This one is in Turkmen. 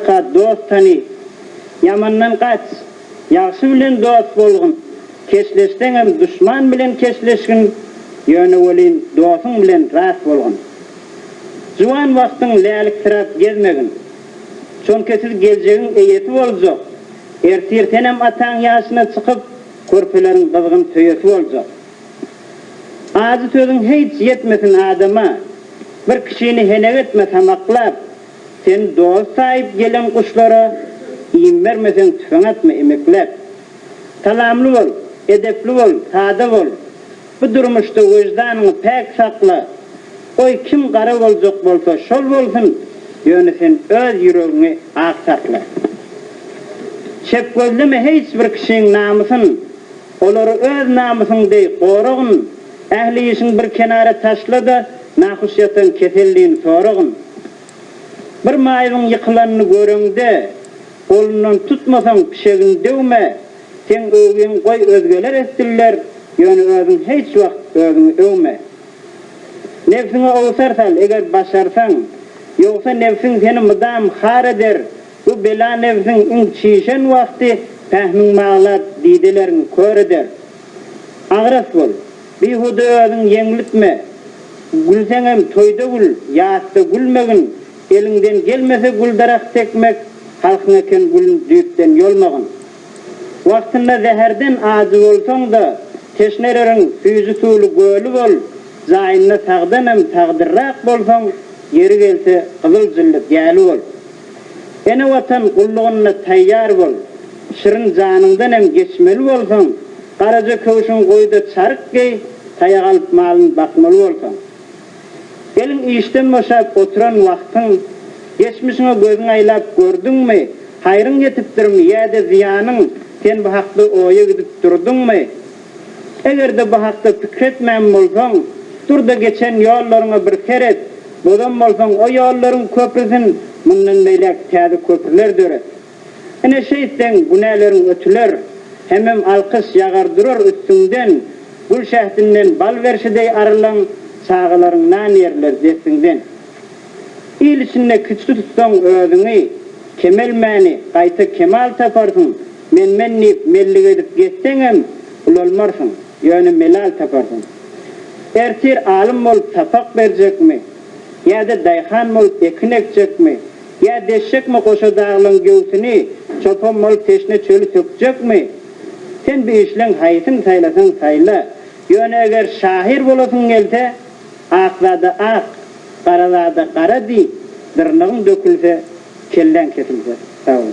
Ka dost tany, ýamandan gaç, ýagşy bilen dost bolgun, keşleşseňem duşman bilen keşleşgin, ýöne welin dosuň bilen rast bolgun. Juwan wagtyň läliksiräp gezmegin, çonki siz geljegiň eýesi boljak, ertir senem ataň ýaşyna çykyp, körpeleriň gyzgyn söýesi boljak. Ajy sözüň heýç ýetmesin adama, Bir kişini henek etme samaklap, Sen dost saýyp gelen guşlara, Iým bermeseň tüfeň atma emekläp. Salamly bol, edepli bol, sada bol, Bu durmuşda weždanyňy päk sakla, Goý kim gara boljak bolsa şol bolsun, Ýöne sen öz ýüregiňi ak sakla. Şep gözleme heýç bir kişiň namysyn, Olary öz namysyň deý goragyn, ähli işiň bir kenara taşla-da, nahuş ýatan keselligiň soragyn. Bir maýybyň ýykylanyny göreňde, golundan tutmasaň, pişegini döwme, seň öwgüň goý özgeler etsinler, ýöne özüň heýç wagt özüňi öwme. Nebsiňe owsar sal, eger başarsaň, ýogsa nebsiň seni mydam har eder, Bu bela nebsiň iň çişen wagty pähmiň maglat didelerin kör eder. Agras bol, bihuda özüň ýeňlitme. Gülseňem toýda gül, ýasda gülmegin, eliňden gelmese güldarak sekmek, halkyň eken gülün düýpden ýolmagyn. Wagtynda zäherden ajy bolsaň-da, teşnereriň süýji suwly göli bol, jaýynda sagdanam sagdyrrak bolsaň, ýeri gelse gyzyl jylly gäli bol. Ene Watan gullugynda taýýar bol, şirin janyňdan hem geçmeli bolsaň, garaja köwşüň goý-da çaryk geý, taýak alyp malyny bakmaly bolsaň. Gelin işden boşap oturan wagtyň, geçmişiňe gözüňi aýlap gördüňmi, haýryň ýetipdirmi ýa-da zyýanyň, sen bu hakda oýa gidip durduňmy? Eger-de bu hakda pikir etmän bolsaň, dur-da geçen ýollaryňa bir seret, bozan bolsaň o ýollaryň köprüsin mundan beýläk täze köprüler döret. Ine şeýtseň günäleriň ötüler, hemem alkyş ýagar durar üstüňden, gül şähdinden bal berşi deý arylan çagalaryň nan ýerler dessiňden. Il içinde kiçi tutsaň özüňi, kemelmäni, gaýta kemal taparsyň, Men-men diýip mellik edip gezseňem, ulalmarsyň, ýöne melal taparsyň. Ertir alym bolup sapak berjekmi, ýa-da daýhan bolup ekin ekjekmi, ýa deşjekmi goşa daglaryň göwsüni, çopan bolup teşne çöli sökjekmi? Sen bu üçleň haýsyny saýlasaň saýla, ýöne eger şahyr bolasyň gelse, ak zada ak, gara zada gara diý, dyrnagyň dökülse, Kelläň kesilse, sag bol.